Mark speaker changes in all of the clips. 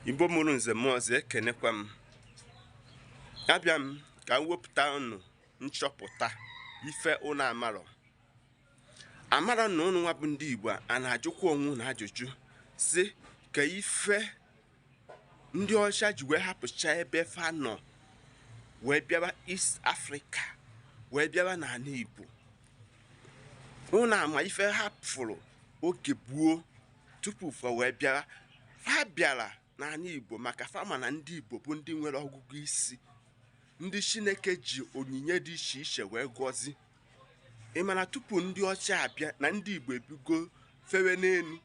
Speaker 1: Igbo mụrụ nze mụọ ọzọ ekenekwa m abịa m ka m wepụta unu nchọpụta ife unu amarọ amarọ na unu nwa bụ ndị Igbo a na-ajụkwa onwe unu ajụjụ sị ka ife ndị ọcha ji wee hapụcha ebe fa nọ wee bịaba East Africa wee bịaba n'ala Igbo unu ama ife hapụrụ oge gboo tupu fa wee bịara fa bịara n'ala igbo maka fa ma na ndị igbo bụ ndị nwere ọgụgụ isi ndị chineke ji onyinye dị iche iche wee gọzi ị ma na tupu ndị ọcha abịa na ndị igbo ebigo fewe n'elu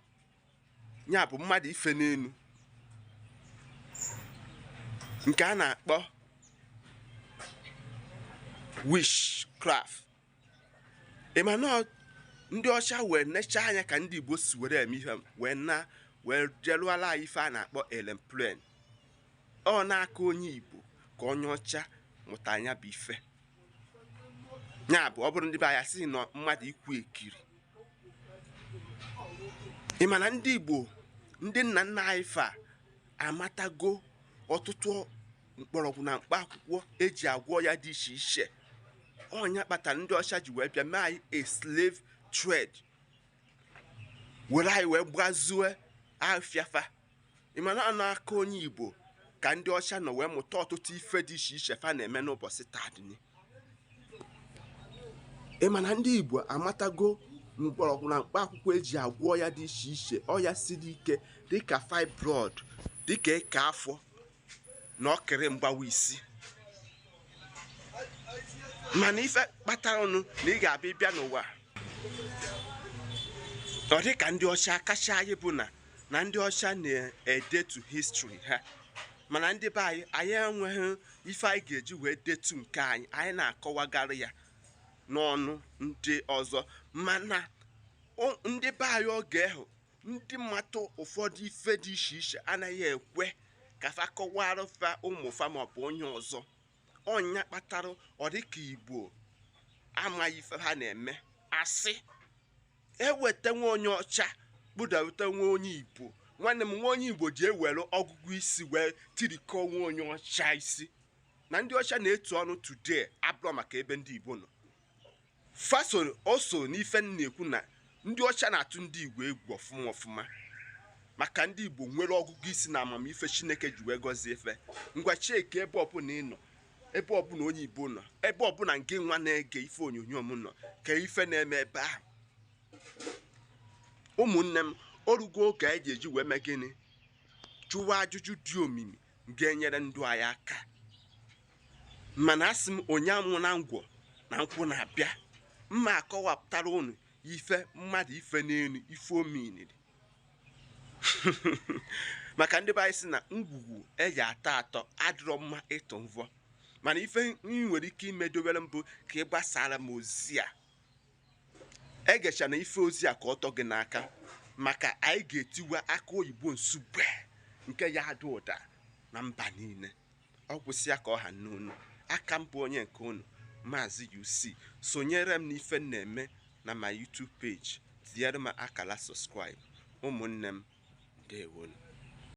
Speaker 1: ya bụ mmadụ ife n'elu nke a na-akpọ witchcraft ị ma na ndị ọcha wee nechaa anya ka ndị igbo si were eme ihe wee naa wee je lụala anyị ife a na-akpọ aeroplane ọ n'aka onye igbo ka onye ọcha mụta nya bụ ife ya bụ ọ bụrụ ndị be anyị sị na mmadụ ikwu ekiri ị ma na ndị igbo ndị nna nna anyị fa amatago ọtụtụ mkpọrọgwụ na mkpa akwụkwọ eji agwọ ọya dị iche iche ọ nya kpatara ndị ọcha ji wee bịa mee anyị a slave trade were anyị wee gbazue afịa fa ị ma na ọ n'aka onye igbo ka ndị ọcha nọ wee mụta ọtụtụ ife dị iche iche fa na-eme n'ụbọchị taa ị ma na ndị igbo amatago mkpọrọgwụ na mkpa akwụkwọ eji agwọ ọya dị iche iche ọya siri ike dịka fibroid dịka eke afọ na ọkịrị mgbawa isi mana ife kpatara ọnụ na ị ga-abịa ị bịa n'ụwa ọ dị ka ndị ọcha kacha anyị bụ na na ndị ọcha na-edetu history ha mana ndị be anyị anyị enweghị ife anyị ga-eji wee detu nke anyị anyị na-akọwagara ya n'ọnụ ndị ọzọ mana ndị be anyị oge ahụ ndị mata ụfọdụ ife dị iche iche anaghị ekwe ka fa kọwara fa ụmụ fa maọbụ onye ọzọ ọ nya kpatara ọ dịka igbo amaghị ife ha na-eme a sị e weta nwa onye ọcha kpụdata nwa onye igbo nwanne m nwa onye igbo ji ewere ọgụgụ isi wee tirikọ nwa onye ọcha isi na ndị ọcha na-etu ọnụ today abụrọ maka ebe ndị igbo nọ fasoro o so n'ife m na-ekwu na ndị ọcha na-atụ ndị igbo egwu ọfụma ọfụma maka ndị igbo nwere ọgụgụ isi na amamife chineke ji wee gọzie fa ngwa chekie ebe ọbụla ị nọ ebe ọbụla onye igbo nọ ebe ọbụla ngị nwa na-ege ife onyonyo m nọ ka ife na-eme ebe ahụ ụmụnne m orugo oge anyị ga-eji wee mee gịnị jụwa ajụjụ dị omimi ga-enyere ndụ anyị aka mana asị m onye aṅụna ngwọ na nkwụ na-abịa m ma-akọwapụtara unu ife mmadụ ife n'elu ife o meniri maka ndị be anyị sị na ngwugwu a ya-atọ atọ adịrọ mma ịtụ mvọ mana ife ị nwere ike imedowere m bụ ka ị gbasara m ozi a egechana ife ozi a ka ọ tọ gị n'aka maka anyị ga-etiwa akụ oyibo nsugbe nke ya-ada ụda na mba niile ọ kwụsịa ka ọ ha n'unu a ka m bụ onye nke unu maazị UC sonyere m n'ife m na-eme na my YouTube page tinyere m akala subscribe ụmụnne m ndewonu